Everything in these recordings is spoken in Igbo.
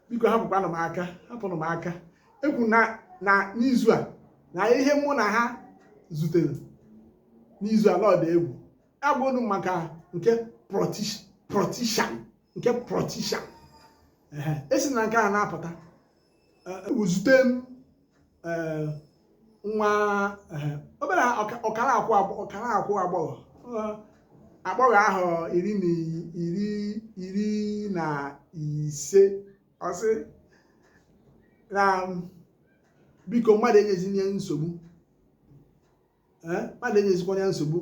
biko hapụkwanụ m aka hapụrụ m aka ekwu na na n'izu a na ihe mụ na ha zutere n'izu a na ọ dị egwu agbụrụ maka nke protishan nke protishan esi na nke a na-apụta e, e, zute m eh, nwa eh, obere ọkara akwụ agbọghọ eh, agbọghọ ahọ iri na iri iri na ise ọ sị na biko mmadụ enyezina ya nsogbu mmadụ enyezikwana ya nsogbu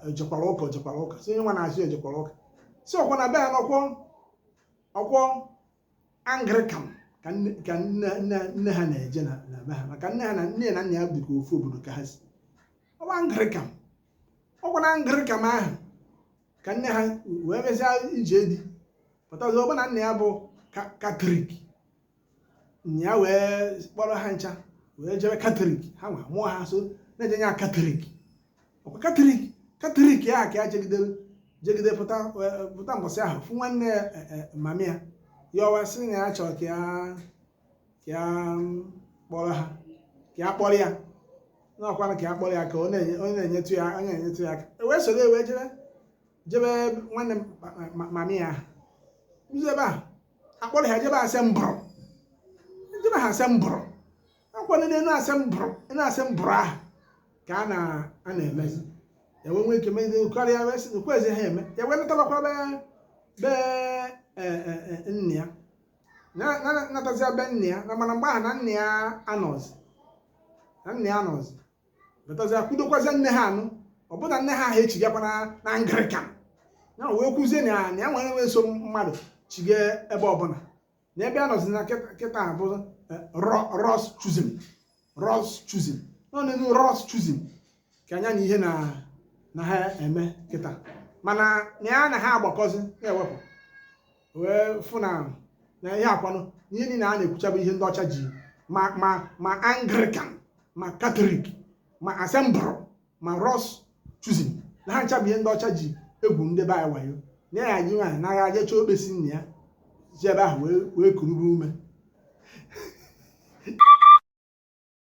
ejekwara ụka jekwara ụka si onye nwa na-achị ejekwara ụka si ọkwa na be ya n'ọkwọ ọkwọ anglikan ka nne ka nne nne nne ha na-eje na na be ha maka nne ha na nne ya na nna ya dịka ofu obodo ka ha si ọ bụ anglikan ọkwa na anglikan ahụ ka nne ha wee mesịa ije di pụtazi ọ bụ na nna ya bụ ka- katọlik nna ya wee kpọrọ ha ncha wee jebe katọlik ha wee mụọ ha so na-eje nya katọlik ọkwa katọlik katọlik ya ka ya jegidere jegide pụta eh, pụta mbọsị ahụ fụ nwanne ya eh, eh, mami ya ya ọ wee sị na ya chọrọ ka ya ka ya mm, kpọrọ ha ka ya kpọrọ ya n'ọkwanụ ka ya kpọrọ ya ka ọ na-enye- onye na-enyetụ ya onye na-enyetụ ya aka wee soro wee jebe jebe nwanne ma- ma- ma- mami ya ụzọ ebe a akpọrọ ha jebe asembụl jebe ha asembụl ọkwa na n'asembụl n'asembụl ahụ ka a na-emezi ya wee nwee ike mezi karịa wee sị nkwa ezi ha eme ya wee natabakwa be be e, e, e, nne ya Na- na- natazia be nne ya na mana mgbe ahụ na nne ya anọzi na nne ya anọzi natazia kwudokwazia nne ha anụ ọ bụ na nne ha ahụ echigakwa na n'anglikan ya wee kwuzie na ya na ya nwere wee so mmadụ chige ebe ọbụla na ebe a nọzi na kịta bụ eh, lord's chosen lord's chosen nọ n'enu lord's chosen ka anya na ihe na ha eme kịta mana na ya na ha agbakọzi na-ewepụ wee fụ na na ihe a kwanụ ihe niile a na-ekwucha bụ ihe ndị ọcha ji ma ma ma anglican ma katọlik ma asembụl ma lord's chosen na ha ncha bụ ihe ndị ọcha ji egbu ndị be anyị wayo na ya ji nwayọ nagha je chọọ okpesi nna ya ji ebe ahụ wee wee kurube ume